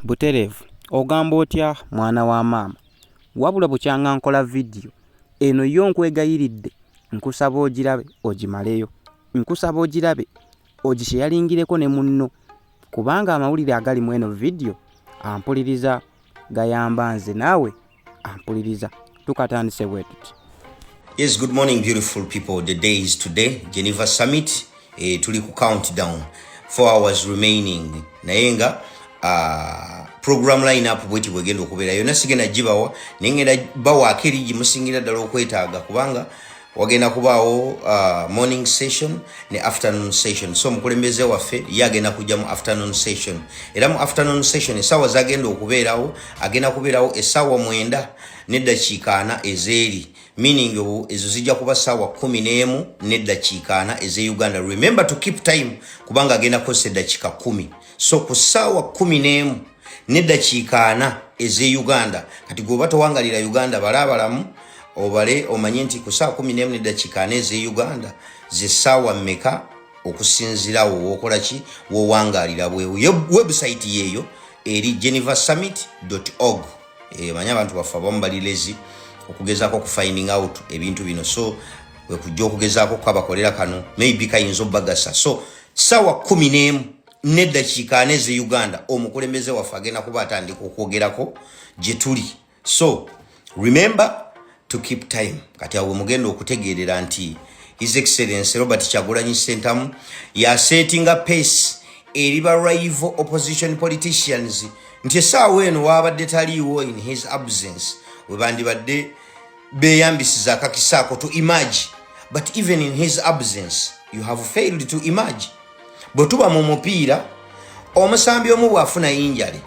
Buterevu ogamba otya mwana wa maama wabula bukyanga nkola vidiyo eno yo nkwegayiridde nkusaba ogirabe ogimaleyo nkusaba ogirabe ogisheyaringireko ne munno kubanga amawulire agali mu eno vidiyo ampuliriza gayamba nze naawe ampuliriza tukatandise bwetuti yes good morning beautiful people the day is today geneva summit eh, tuli ku countdown four hours remaining naye nga uh, program line up bweti bwegenda okubeera yona sigenda gibawa naye ngenda bawaako eri gimusingira ddala okwetaaga kubanga wagenda kubaawo uh, morning session ne afternoon session so omukulembeze waffe ye agenda kujja mu afternoon session era mu afternoon session esaawa zagenda okubeerawo agenda kubeerawo esaawa mwenda neddakiika ana ezeeri meaning ezo zijja kuba saawa kumi n'emu neddakiika ana eze uganda remember to keep time kubanga agenda kukozesa eddakiika kumi so ku ssaawa kumi n'emu neddakiika ana ez'e uganda kati gweoba towangalira uganda balaabalamu obale omanye nti ku ssaawa kumi n'emu neddakiika ana ez'e uganda zessaawa mmeka okusinzirawo wokola ki wowangalira bwewo website yeeyo eri geneva summit org eh, manya abantu baffe abamu bali lezi okugezaako okufinding out ebintu bino so wekujja okugezaako kukabakolera kano maybe kayinza obagasa so sawa kumi n'emu n'eddakiika ana eze uganda omukulembeze waffe agenda kuba atandika okwogerako gye tuli so remember to keep time kati awo mugenda okutegeerera nti his excellence robert kyagulanyi sentamu yasetinga pace eri ba rival opposition politicians nti esaawa eno waabadde taliiwo in his absence webandibadde beyambisiza akakisa ako to emerge but even in his absence you have failed to emerge bwe tuba mu mupiira omusambi omu bw'afuna yinjale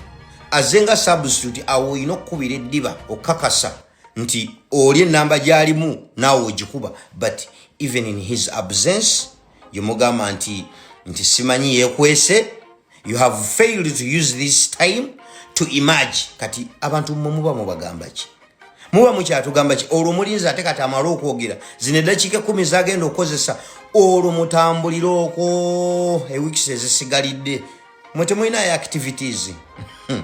aze nga substitute awo olina okukubira eddiba okukakasa nti oli enamba gy'alimu naawe ogikuba but even in his absence yomugamba nti nti simanyi yekwese you have failed to use this time to emerge kati abantu mwe muba mubagamba ki muba mukyatugamba ki olwo mulinzi ate kati amala okwogera zino eddakiika ekumi zagenda okukozesa olwo mutambulire okwo ewiks ezisigalidde mwe temulinayo activities hmm.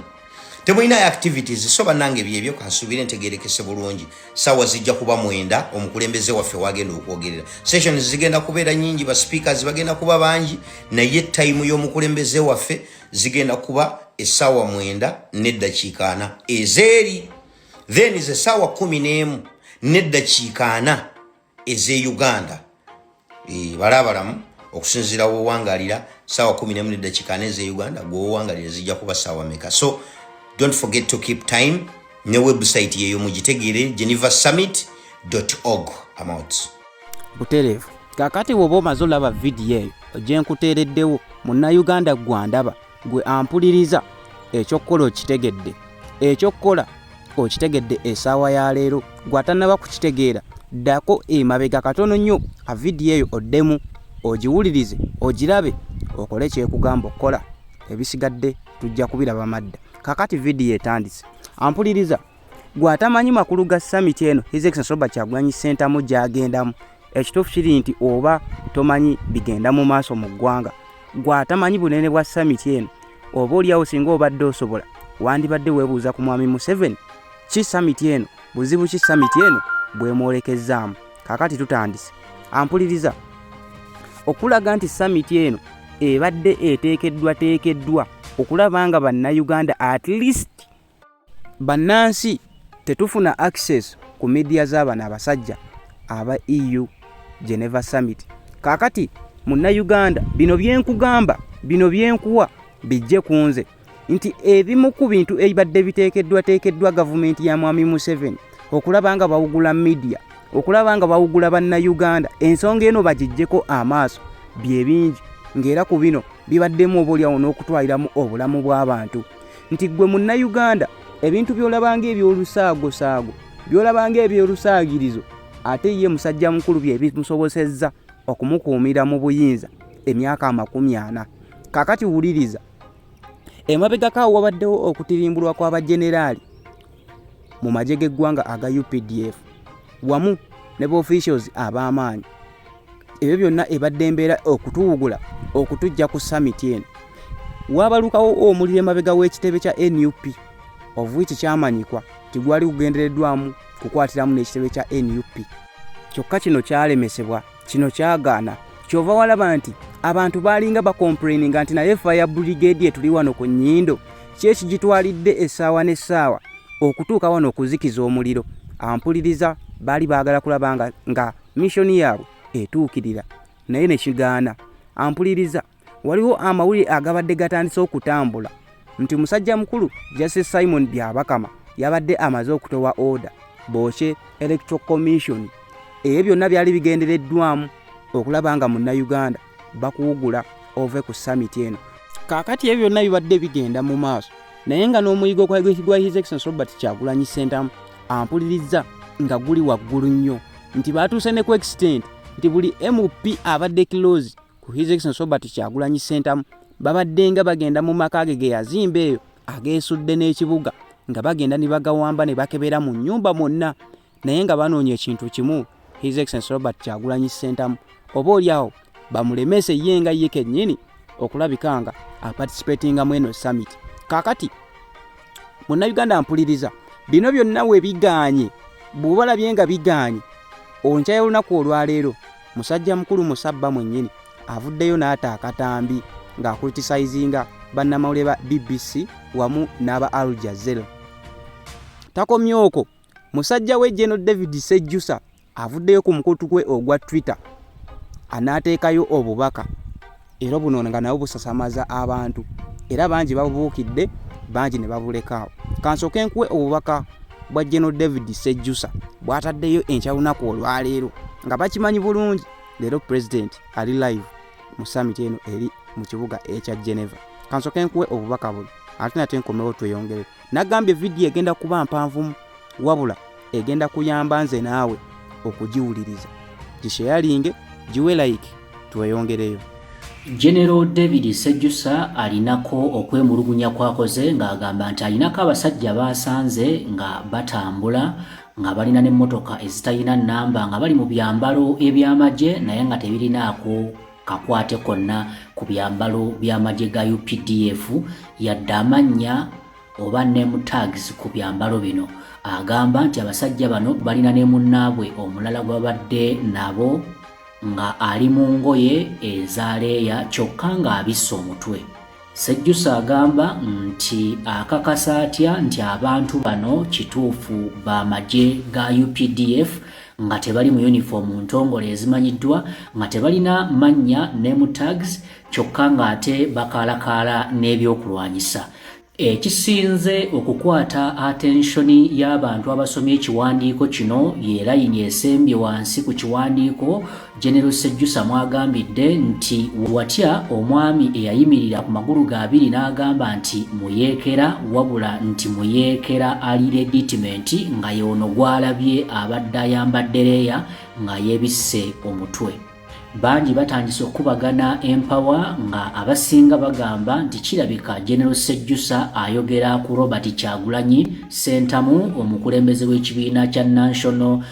temulinayo activities so banange byebyo kansuubire ntegerekese bulungi sawa zijja kuba mwenda omukulembeze waffe wagenda okwogerera sessions zigenda kubeera nyingi ba speakers bagenda kuba bangi naye time y'omukulembeze waffe zigenda kuba esaawa mwenda neddakiika ana ezeeri then is esaawa kumi n'emu neddakiika ana eze uganda e, balabalamu okusinzira wowangalira sawa 1 eze uganda gwowangalira zijja kuba sawa meka so don't forget to keep time ne website yeyo mugitegere geneva summit org amount buterevu kakati woba omaze olaba vidiyo eyo ojenkuteereddewo munnauganda gwandaba gwe ampuliriza ekyokukola okitegedde ekyokukola okitegedde esaawa ya leero gwatanaba kukitegeera ddako emabega katono nnyo a vidiyo eyo oddemu ogiwulirize ogirabe okole kyekugamba okukola ebisigadde tujja kubiraba madda kakati vidiyo etandise ampuliriza gwe atamanyi makulu ga summit eno his excellence robert kyagulanyi sentamu gyagendamu ekituufu kiri nti oba tomanyi bigenda mu maaso mu ggwanga gwe atamanyi bunene bwa summit eno oba oliawo singa obadde osobola wandibadde webuuza ku mwami museveni ki summit eno buzibu ki summit eno bwemwolekezzaamu kakati tutandise ampuliriza okulaga nti summit eno ebadde eteekeddwa teekeddwa okulaba nga bannayuganda at least Bannansi tetufuna access ku media z'abano abasajja aba EU Geneva Summit. Kakati munna Uganda bino byenkugamba bino byenkuwa bijje ku nze nti ebimu ku bintu ebibadde biteekeddwateekeddwa gavumenti ya mwami Museveni okulaba nga bawugula media okulaba nga bawugula banna Uganda ensonga eno bagijjeko amaaso bye bingi ng'era ku bino bibaddemu oba olyawo n'okutwaliramu obulamu bw'abantu. nti gwe munnayuganda ebintu by'olabanga eby'olusaagosaago by'olabanga eby'olusaagirizo ate ye musajja mukulu bye bimusobosezza okumukuumira mu buyinza emyaka amakumi ana kakati wuliriza emabegako awo wabaddewo okutirimbulwa kw'abajeneraali mu magye g'eggwanga aga updf wamu ne baofficials ab'amaanyi ebyo byonna ebadde embeera okutuwugula okutujja ku summit eno waabalukawo omuliro emabega w'ekitebe kya nup ovuiki kyamanyikwa nti gwali gugendereddwamu kukwatiramu n'ekitebe kya nup kyokka kino kyalemesebwa kino kyagaana kyova walaba nti abantu baalinga bakomplaininga nti naye fire brigade etuli wano ku nyindo kyekigitwalidde essaawa n'essaawa okutuuka wano okuzikiza omuliro ampuliriza baali baagala kulaba nga mishoni yaabwe etuukirira naye nekigaana ampuliriza waliwo amawulire agabadde gatandise okutambula nti musajja mukulu justice simon byabakama yabadde amaze okutowa order bookye electoral commission ebyo byonna byali bigendereddwamu okulaba nga munnayuganda bakuwugula ove ku samiti eno kaakati ebyo byonna bibadde bigenda mu maaso naye nga n'omuyigo gwa his excellence robert kyagulanyi sentamu ampulirizza nga guli waggulu nnyo nti baatuuse ne ku extent nti buli mp abadde kilozi ku His Excellency Robert Kyagulanyi Ssentamu babaddenga bagenda mu maka ge ge yazimba eyo ageesudde n'ekibuga nga bagenda ne bagawamba ne bakebera mu nnyumba mwonna naye nga banoonya ekintu kimu His Excellency Robert Kyagulanyi Ssentamu oba oli awo bamulemese ye nga ye kennyini okulabika nga aparticipatinga mu eno summit kaakati munnayuganda mpuliriza bino byonna we bigaanye bw'obalabye nga bigaanye onkyayo olunaku olwaleero musajja mukulu musabba mwennyini avuddeyo n'ata akatambi ng'akulitisayizinga bannamawulire ba bbc wamu n'aba al jazera takomye okwo musajja we geno david sejjusa avuddeyo ku mukutu gwe ogwa twitter anaateekayo obubaka era buno nga nabo busasamaza abantu era bangi babubuukidde bangi ne babulekaawo kansooke nkuwe obubaka bwa general david sejjusa bwataddeyo enkya lunaku olwaleero nga bakimanyi bulungi leero pulezidenti ali live mu samiti eno eri mu kibuga ekya geneva kansooke nkuwe obubaka buno ate nate nkomewo tweyongere nagambye vidiyo egenda kuba mpanvumu wabula egenda kuyamba nze naawe okugiwuliriza gisheyalinge giwe like tweyongereyo genero david sejjusa alinako okwemulugunya kwakoze ng'agamba nti alinako abasajja baasanze nga batambula nga balina n'emmotoka ezitalina nnamba nga bali mu byambalo eby'amagye naye nga tebirinaako kakwate konna ku byambalo by'amagye ga updf yadde amannya oba name tags ku byambalo bino agamba nti abasajja bano balina ne munnaabwe omulala gwabadde nabo nga ali mu ngoye eza leeya kyokka ng'abisse omutwe Sejjusa agamba nti akakasa atya nti abantu bano kituufu ba magye ga UPDF nga tebali mu yunifoomu ntongole ezimanyiddwa nga tebalina mannya ne mu tags kyokka ng'ate bakaalakaala n'ebyokulwanyisa ekisinze okukwata atenshoni y'abantu abasomye ekiwandiiko kino ye layini esembye wansi ku kiwandiiko General Sejjusa mwagambidde nti watya omwami eyayimirira ku magulu ga abiri n'agamba nti muyeekera wabula nti muyeekera ali leditimenti nga yoono gwalabye abadde ayambadde leeya nga yebisse omutwe. Bangi batandise okukubagana empawa nga abasinga bagamba nti kirabika General Sejjusa ayogera ku Robert Kyagulanyi Ssentamu omukulembeze w'ekibiina kya National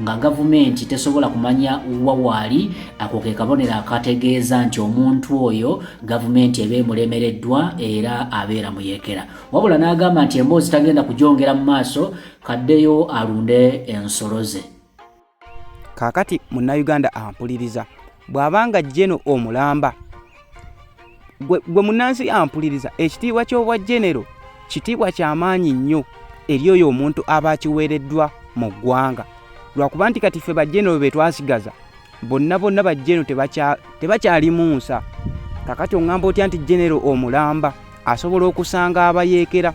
nga gavumenti tesobola kumanya wa waali ako ke kabonero akategeeza nti omuntu oyo gavumenti eba emulemereddwa era abeera muyekera wabula n'agamba nti emboozi tagenda kujongera mu maaso kaddeyo alunde ensolo ze kaakati munnayuganda ampuliriza bw'abanga jeno omulamba gwe munansi ampuliriza ekitiibwa ky'obwa genero kitiibwa kyamaanyi nnyo eri oyo omuntu aba akiweereddwa mu ggwanga lwakuba nti kati ffe bagenero be twasigaza bonna bonna bagenero tebakyalimu nsa kakati oŋŋamba otya nti genero omulamba asobola okusanga abayeekera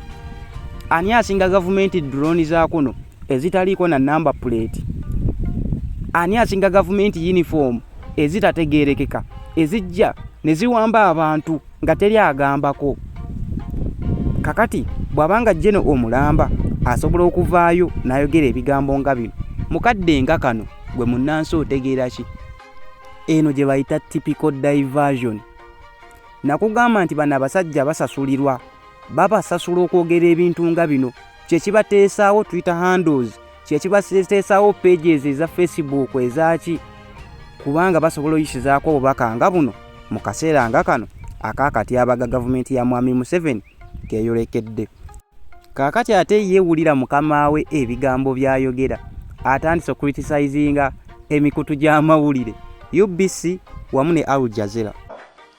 ani asinga gavumenti durooni za kuno ezitaliiko na namba puleeti ani asinga gavumenti yunifoomu ezitategeerekeka ezijja ne ziwamba abantu nga teri agambako kakati bw'aba nga jeno omulamba asobola okuvaayo n'ayogera ebigambo nga bino mukadde nga kano gwe munnansi otegeera ki eno gye bayita typical diversion nakugamba nti bano abasajja basasulirwa babasasula okwogera ebintu nga bino kye kibateesaawo twitter handles kye kibateesaawo pages eza facebook ezaaki kubanga basobola oyisizaako obubaka nga buno mu kaseera nga kano akakatyabaga gavumenti ya mwami museveni keyolekedde kaakati ate yeewulira mukama we ebigambo by'ayogera atandise okuritisayizinga emikutu gy'amawulire ubc wamu ne al jazera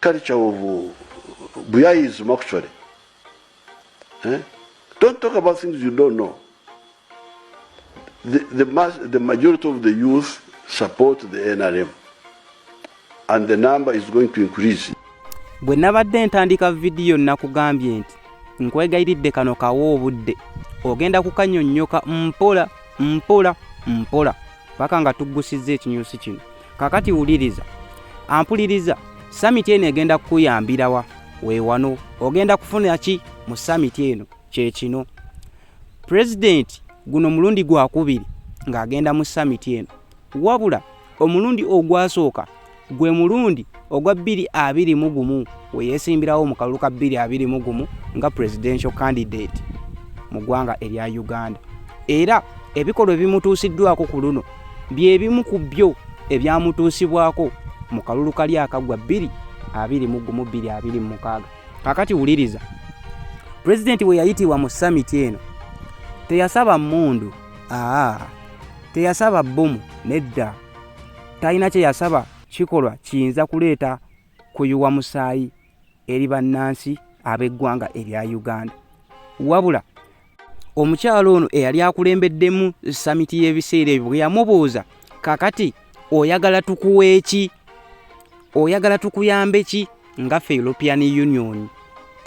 culture of uh, Buyayism actually. Eh? Don't talk about things you don't know. The, the, mass, the majority of the youth support the NRM and the number is going to increase. Bwe nabadde ntandika vidiyo nakugambye nti nkwegayiridde kano kawo obudde ogenda kukanyonnyoka mpola mpola mpola paka nga tuggusizza ekinyusi kino. kakati wuliriza ampuliriza samiti eno egenda kukuyambirawa wewano ogenda kufuna ki mu samiti eno kyekino pulezidenti guno mulundi gwakubiri ng'agenda mu samiti eno wabula omulundi ogwasooka gwe mulundi ogwa bbiri abiri mu gumu we yeesimbirawo mu kalulu ka bbiri abiri mu gumu nga presidential candidate mu ggwanga erya uganda era ebikolwa ebimutuusiddwako ku luno bye bimu ku byo ebyamutuusibwako mu kalulu kali akaggwa bbiri abiri mu gumu bbiri abiri mu mukaaga kakati wuliriza pulezidenti we yayitibwa mu samiti eno teyasaba mmundu aa teyasaba bbomu nedda talina kye yasaba kikolwa kiyinza kuleeta kuyuwa musaayi eri bannansi ab'eggwanga erya uganda wabula omukyalo ono eyali akulembeddemu samiti y'ebiseera ebyo bwe yamubuuza kakati oyagala tukuwa eki oyagala tukuyambe ki nga fe european union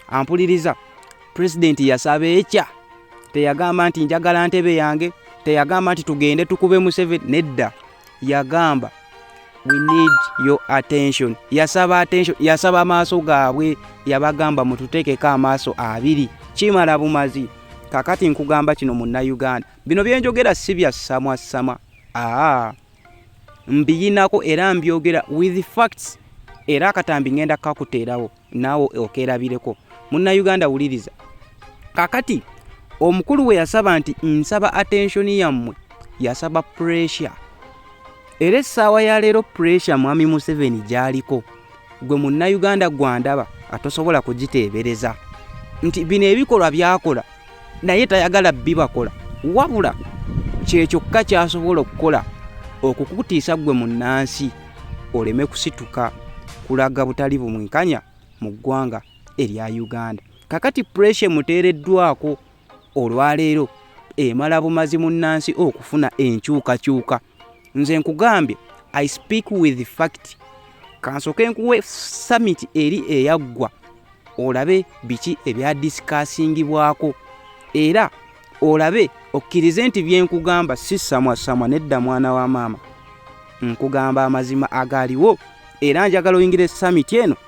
ampuliriza pulezidenti yasaba ekya teyagamba nti njagala ntebe yange teyagamba nti tugende tukube museveni nedda yagamba we need your attention yasaba attention yasaba amaaso gaabwe yabagamba mututeekeko amaaso abiri kimala bumazi kakati nkugamba kino munnayuganda bino byenjogera si bya samwasama aa mbiyinako era mbyogera with facts era akatambi ngenda kakuteerawo naawe okeerabireko munnayuganda wuliriza kakati omukulu we yasaba nti nsaba attention yammwe yasaba pressure era essaawa ya leero pressure mwami museveni gyaliko gwe munnayuganda gwandaba atosobola kugiteebereza nti bino ebikolwa byakola naye tayagala bibakola wabula kyekyokka kyasobola okukola okukutiisa ggwe mu nnansi oleme kusituka kulaga butali bumwenkanya mu ggwanga erya uganda kakati puresha emuteereddwako olwaleero emala bumazi mu nnansi okufuna enkyukakyuka nze nkugambye i speak with fact kansoke nkuwe summit eri eyaggwa olabe biki ebyadisikaasingibwako era olabe okkirize nti byenkugamba si samwasamwa nedda mwana wa maama nkugamba amazima agaaliwo era njagala oyingira esamiti eno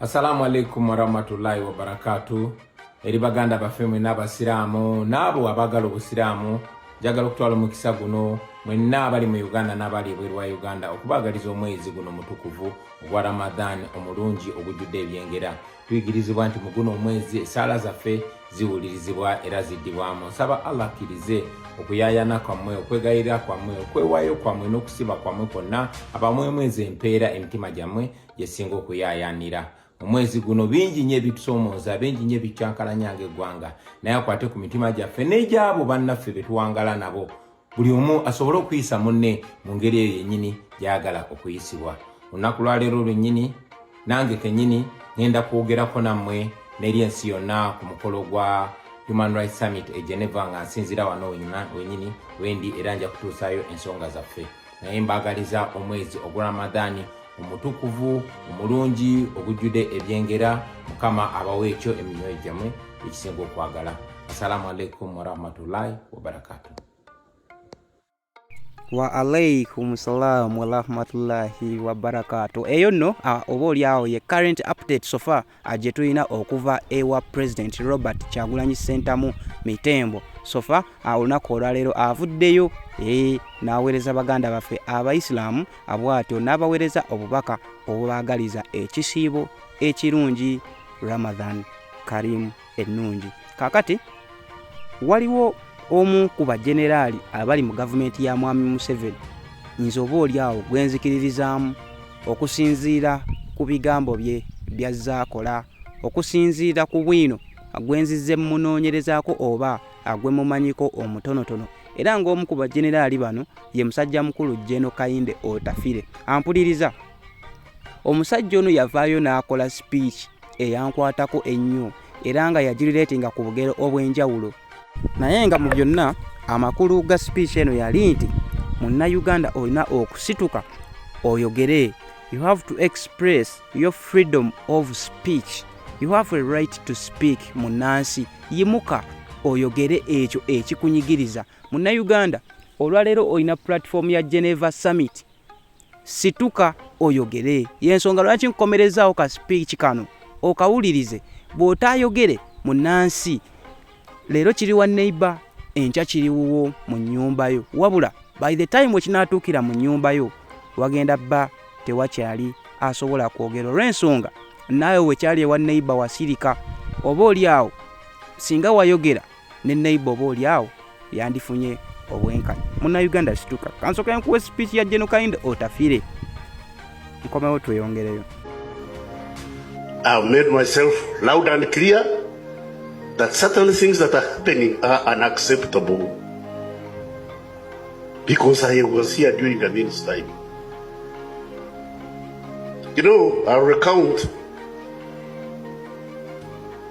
assalamu alaikum warahmatullahi wabarakatu eri baganda baffe mwenna abasiraamu naabo abagala obusiraamu njagala okutwala omukisa guno mwenna abali mu uganda n'abali ebweru wa uganda okubaagaliza omwezi guno mutukuvu ogwa ramadhan omulungi ogujjudde ebyengera tuyigirizibwa nti mu guno omwezi esaala zaffe ziwulirizibwa era ziddibwamu nsaba allah akkirize okuyayana kwammwe okwegayirira kwammwe okwewayo kwammwe n'okusiba kwammwe kwonna abamwemwezi empeera emitima gyammwe gyesinga okuyayanira omwezi guno bingi nyo ebitusomooza bingi nyo ebikyankalanya nga eggwanga naye akwate ku mitima gyaffe n'egyabo bannaffe betuwangala nabo buli omu asobole okuyisa munne mu ngeri eyo yennyini gy'agala okuyisibwa olunaku lwaleero lwennyini nange kennyini ŋenda kwogerako nammwe n'eri ensi yonna ku mukolo gwa human rights summit e geneva nga nsinzira wano wenyini wendi era nja kutuusayo ensonga zaffe naye mbaagaliza omwezi ogwa ramadhani omutukuvu omulungi ogujjude ebyengera mukama abawo ekyo emimyoyo gyamwe ekisinga okwagala assalamu alaikum warahmatullahi wabarakatu wa alaikum salam warahmatullahi wabarakatu eyo nno oba oli awo ye current update sofa gye tulina okuva ewa president robert kyagulanyi sentamu mitembo sofa olunaku olwaleero avuddeyo e, n'aweereza baganda baffe abaisiramu abwatyo n'abaweereza obubaka obubaagaliza ekisiibo ekirungi ramadhan karimu ennungi kaakati waliwo omu ku bajeneraali abali mu gavumenti ya mwami museveni nze oba oli awo gwenzikiririzaamu okusinziira ku bigambo bye byazza akola okusinziira ku bwino agwenzizze mumunoonyerezaako oba agwe mumanyiko omutonotono era ng'omu ku bajeneraali bano ye musajja mukulu jeno kayinde otafire ampuliriza omusajja ono yavaayo n'akola speech eyankwatako ennyo era nga yagirireetinga ku bugero obw'enjawulo naye nga mu byonna amakulu ga speech eno yali nti munnayuganda olina okusituka oyogere you have to express your freedom of speech you have a right to speak munnansi yimuka oyogere ekyo ekikunyigiriza munnayuganda olwaleero olina pulatifomu ya geneva summit situka oyogere yensonga lwaki nkukomerezaawo ka speech kano okawulirize bw'otaayogere munnansi leero kiri wa neighbor enkya kiri wuwo mu nnyumba yo wabula by the time wekinaatuukira mu nnyumba yo wagenda bba tewakyali asobola kwogera olw'ensonga naawe wekyali ewa neighbor wasirika oba oli awo singa wayogera ne neighbor oba oli awo yandifunye obwenkanya munnayuganda situka kansoka nkuwa speech ya geno kainde otafire nkomewo tweyongereyo I've made myself loud and clear that certain things that are happening are unacceptable because I was here during the means time. You know, I'll recount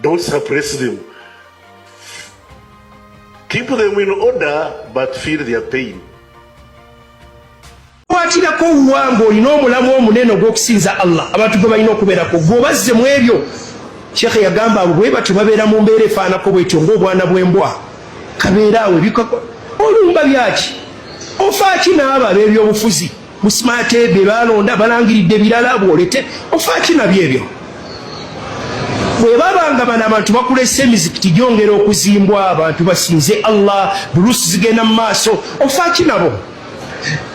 Don't suppress them. Keep them in order but feel their pain. kwatirako owange olina omulamu omunene ogw'okusinza allah abantu gwe balina okubeerako gwobazze mu ebyo sheekhe yagamba abo bwe batyo babeera mu mbeera efaanako bwetyo ng'obwana bw'embwa kabeera awo ebikako olumba byaki ofaaki n'abo ab'ebyobufuzi Musmate be balonda balangiridde birala bwolete ofaaki nabyo ebyo bwe baba nga bano abantu bakulese emizikiti gyongera okuzimbwa abantu basinze allah bulusi zigenda mu maaso ofaaki nabo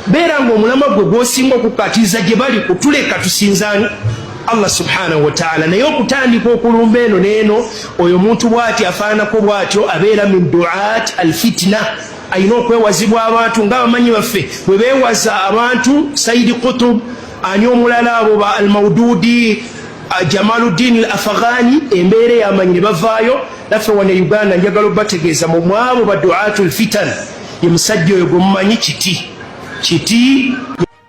beera nga omulama gwe gwosinga okukatiriza gye bali kutuleka tusinzani allah subhanahu wataala naye okutandika okulumba eno neeno oyo omuntu bwati afaananako bwatyo abeera min duat alfitina alina okwewazibwa abantu nga abamanyi baffe bwe beewaza abantu saidi kutub ani omulala abo ba almaududi jamaluddin al afaghani embeera eyamanyi ne bavaayo naffe wane uganda njagala obategeeza mu mwabo baduatu lfitan ye musajja oyo gwemumanyi kiti kiti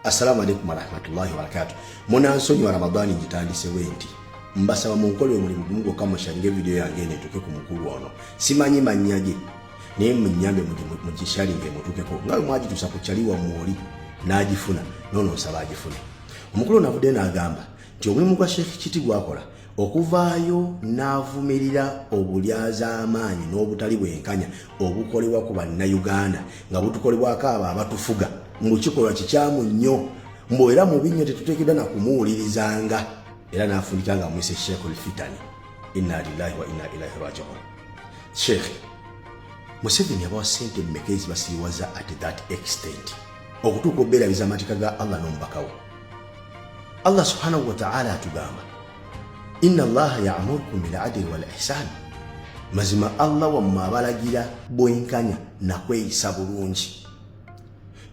Assalamu alaikum warahmatullahi wabarakatu. Munansonyi wa Ramadhani njitandise wenti. Mbasaba munkole omulimu gumu gwokka mushange video yange eno etuuke ku mukulu ono. Simanyi mannya ge naye munyambe mugishalinge mutuukeko nga bwe mwagituusa ku kyali wammwe oli n'agifuna noono nsaba agifune. Omukulu ono avudde n'agamba nti omulimu gwa Sheikh Kiti gwakola okuvaayo n'avumirira obulyazaamaanyi n'obutali bwenkanya obukolebwa ku bannayuganda nga butukolebwako abo abatufuga mbu kikolwa kikyamu nnyo mbu era mubi nnyo tetuteekedda na kumuwulirizanga era n'afundika nga mwise sheekh lfitani inna lillahi wa inna ilaihi rajiun sheekh museveni abawa sente mmeka ezibasiriwaza at that extent okutuuka obeerabiza amateeka ga allah n'omubakawo Allah subhanahu wa ta'ala atugamba inna allaha ya'murukum bil adli wal ihsan, mazima Allah wammwe abalagira bwenkanya na kweyisa bulungi.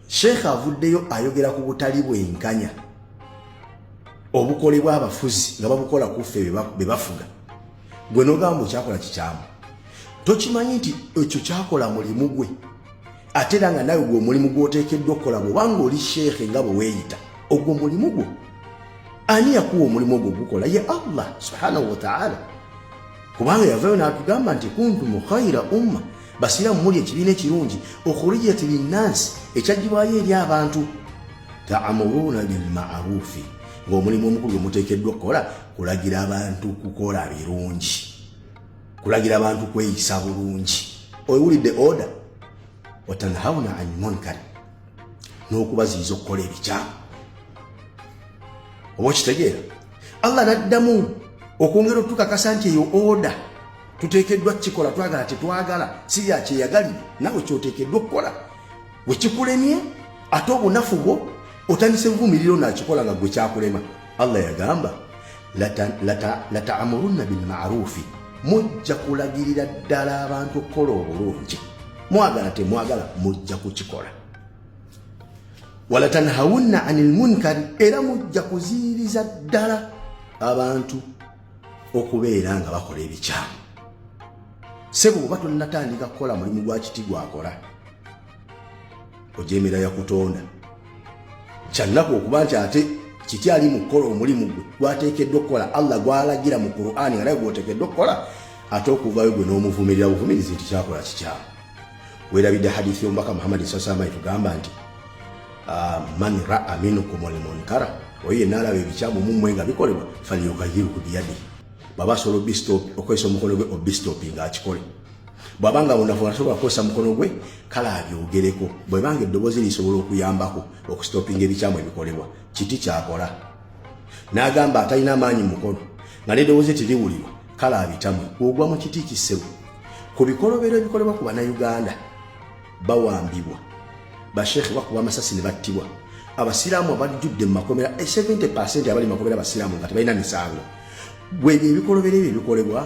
Sheikh avuddeyo ayogera ku butali bwenkanya obukolebwa abafuzi nga babukola ku ffe be bafuga. Gwe nogamba okyakola kikyamu, tokimanyi nti ekyo kyakola mulimu gwe ate era nga nawe gwe omulimu gwoteekeddwa okukola bwobanga oli sheekhe nga bwe weeyita ogwo mulimu gwo ani yakuwa omulimu ogwo gukola ye allah subhanahu wataala kubanga yavayo natugamba nti kuntu mukhaira umma basiramu muli ekibiina ekirungi okhurijat linnansi ekyajibwayo eri abantu taamuruuna bilmarufi ngaomulimu omukulu gwemuteekeddwa okukola kulagira abantu kukola birungi kulagira abantu kweyisa bulungi owulidde oda watanhauna ani munkari n'okubaziyiza okukola ebikyamu oba okitegeera allah naddamu okwongera otukakasa nti eyo oda tuteekeddwa kukikola twagala tetwagala si yakyeyagalire nawe kyoteekeddwa okukola wekikulemye ate obunafu bwo otandise buvumiriro nakikola nga gwe kyakulema Allah yagamba lataamurunna bilmarufi, mujja kulagirira ddala abantu okukola obulungi, mwagala temwagala mujja kukikola. Walatanhawunna ani lmunkari, era mujja kuziiriza ddala abantu okubeera nga bakola ebikyamu. Sebo oba tonnatandika kukola mulimu gwa kiti gwakola ojemera yakutonda kyannaku okuba nti ate kiti ali mu kukola omulimu gwe gwateekeddwa okukola allah gwalagira mu qurani nga naye gwoteekeddwa okukola ate okuvayo gwe n'omuvumirira buvumirizi nti kyakola kikyamu werabidde hadithi y'omubaka muhammadi sasama etugamba nti ah, man raa minkum almunkara oyo yenna alaba ebikyamu mumwe nga bikolebwa falyugayiruku biyadi baba asobola okwesa omukono gwe obistopinga akikole bwaba nga munafu asobola kukozesa mukono gwe kale abyogereko bwebanga eddoboozi lisobola okuyambako okusitopinga ebikyamu ebikolebwa kiti kyakola n'agamba atalina amaanyi mukono nga n'eddoboozi tiriwulirwa kale abitamwe ogwa mu kiti kisebo ku bikolobero ebikolebwa ku bannayuganda bawambibwa bashekhe bakuba amasasi ne battibwa abasiraamu abajjudde mu makomera 70 eh, abali makomera abasiraamu nga tebalina misango bwebyo ebikolobera ebyo ebikolebwa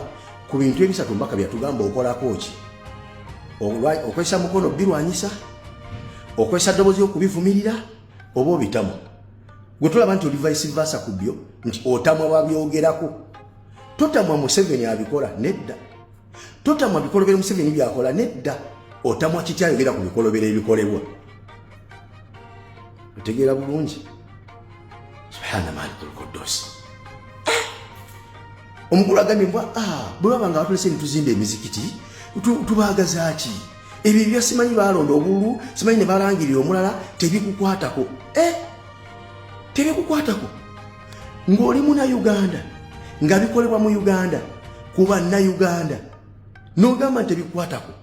ku bintu ebisatu mbaka byatugamba okolako ki okozesa mukono birwanyisa okozesa ddobozi okubivumirira oba obitamu gwe tolaba nti oli vice versa ku byo nti otamwa babyogerako totamwa museveni abikola nedda totamwa bikolobero museveni byakola nedda otamwa kiti ayogera ku bikolobero ebikolebwa otegeera bulungi subhana malikulkodosi ah! omukulu agambye mbwa ah, bwe baba nga batulese nituzimba emizikiti tubaagazaki ebyo ebya simanyi balonda obululu simanyi ne balangirira omulala tebikukwatako eh! tebikukwatako ng'oli muna uganda nga bikolebwa mu uganda kuba na uganda nogamba nti ebikwatako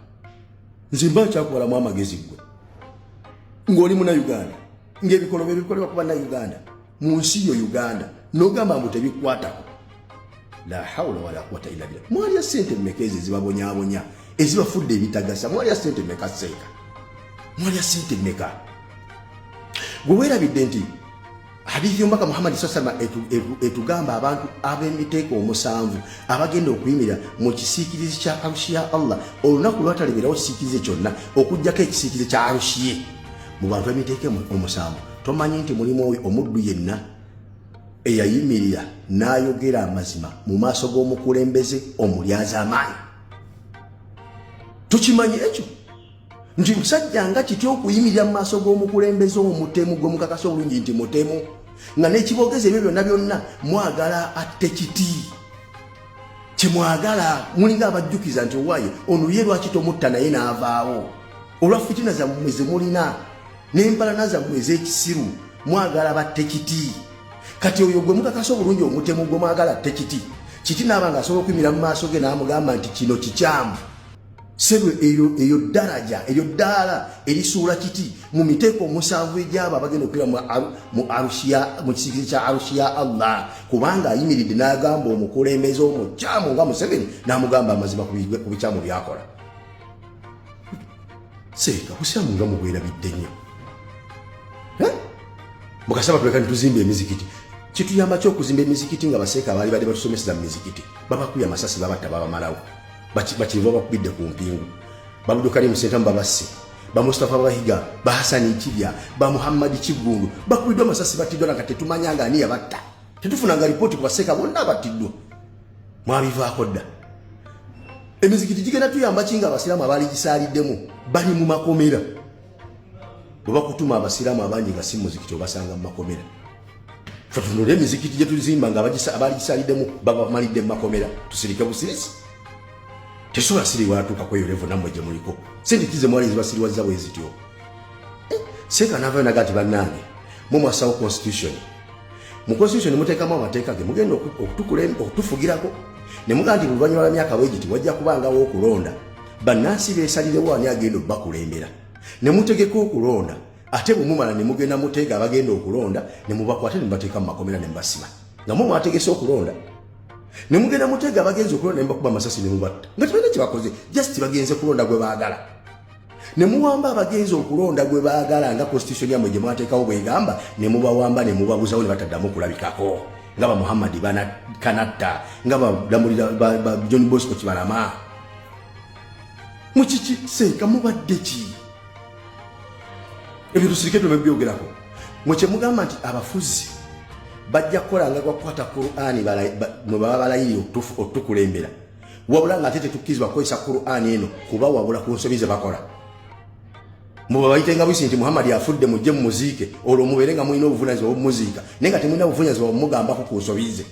nze mba nkyakubalamu amagezi gwe ng'oli muna uganda ngaebikolobwa ebikolebwa kuba na uganda mu nsi yo uganda nogamba mbu tebikwatako la haula wala quwata illa billah mwalya sente mmeka ezo ezibabonyabonya ezibafudde ebitagasa mwalya sente mmeka seeka mwalya sente mmeka gwe weerabidde nti hadithi y'omubaka muhammadi saa salama etugamba abantu ab'emiteeko omusanvu abagenda okuyimirira mu kisiikirizi kya arushi ya allah olunaku lwatalibirawo kisiikirize kyonna okugyako ekisiikirize kya arushi ye mu bantu emiteeko omusanvu tomanyi nti mulimu oyo omuddu yenna eyayimirira n'ayogera amazima mu maaso g'omukulembeze omulyaza amaanyi tukimanyi ekyo nti musajja nga kiti okuyimirira mu maaso g'omukulembeze omutemu gwe mukakasa obulungi nti mutemu nga n'ekiboogezi ebyo byonna byonna mwagala atte kiti kyemwagala mulinga abajjukiza nti owaye ono ye lwaki tomutta naye n'avaawo olwa fitina zammwe zemulina n'empalana zammwe ez'ekisiru mwagala batte kiti kati oyo gwe mukakasa obulungi omutemu gwe mwagala atte kiti kiti naaba nga asobola okuyimirira mu maaso ge n'amugamba nti kino kikyamu sebo eyo eyo daraja eyo dala elisuula kiti mu miteeko omusanvu egyaba abagenda okira mu arushiya mu kisikirize kya arushiya allah kubanga ayimiridde n'agamba omukulembeze omukyamu nga museveni n'amugamba amazima ku bikyamu byakola seeka busiramu nga mubwerabidde nnyo mukasaba tuleka nituzimba emizikiti kituyamba ki okuzimba emizikiti nga baseeka abaali badde batusomeseza mu mizikiti babakuya amasasi babatta babamalawo bakiriva bakubidde ku mpingu babudukali musentamu babasse bamustafa bahiga bahasani kibya bamuhammadi kiggundu bakubiddwa amasasi battiddwa nanga tetumanya nga ani yabatta tetufunanga lipooti ku baseeka bonna abattiddwa mwabivaako dda emizikiti gigenda tuyamba ki nga abasiraamu abaali gisaliddemu bali mu makomera bwe bakutuma abasiraamu abangi nga si muzikiti obasanga mu makomera tutunule emizikiti gye tuzimba nga abaaligisaliddemu babamalidde mu makomera tusirike busirisi tesobola siriwatuuka kweyo levo nammwe gye muliko sente kize mwali zibasiriwazza bwe zityo eh, seeka naavayo naga nti bannange mwe mwasawo constitution mu constitution muteekamu amateeka ge mugenda okutufugirako ne mugaa nti buluvannyuma lwa myaka bwegiti wajja kubangawo okulonda bannansi beesalirewo ani agenda okubakulembera ne mutegeka okulonda ate bwemumala ne mugenda muteega abagenda okulonda ne mubakwate ne mubateeka mu makomera ne mubasiba nga mu mwategese okulonda ne mugenda muteega abagenzi okulonda ne mubakuba amasasi ne mubatta nga tebalina kye bakoze just bagenze kulonda gwe baagala ne muwamba abagenzi okulonda gwe baagala nga constitution yamwe gye mwateekawo bwegamba ne mubawamba ne mubabuzawo ne bataddamu okulabikako nga ba muhammadi banakanatta nga balamulira ba john bosco kibalama mukiki seeka mubadde ki ebyo tusirike tube byogerako mwe kyemugamba nti abafuzi bajja kukola nga gwakukwata qurani mwe baba balayiri okutukulembera wabula ng'ate tetukkirizibwa kukozesa qur'ani eno kuba wabula ku nsobi ze bakola mubabayite nga buyisi nti muhammadi afudde mujje mu muziike olwo mubeere nga mulina obuvunanyizibwa obumuziika naye nga temulina buvunanyizibwa bumugambako ku nsobi ze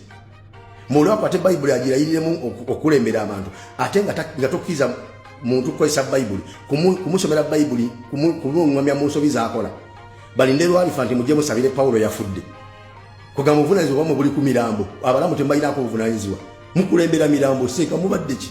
mulwako ate bayibuli agirayiriremu okukulembera abantu ate nga tokkiriza muntu kukozesa bayibuli kumusomera bayibuli kumung'amya mu nsobi zakola balinde lwalifa nti mujje musabire pawulo yafudde kugamba obuvunanyizibwa bwamwe buli ku mirambo abalamu temubalinako obuvunanyizibwa mukulembera mirambo seeka mubadde ki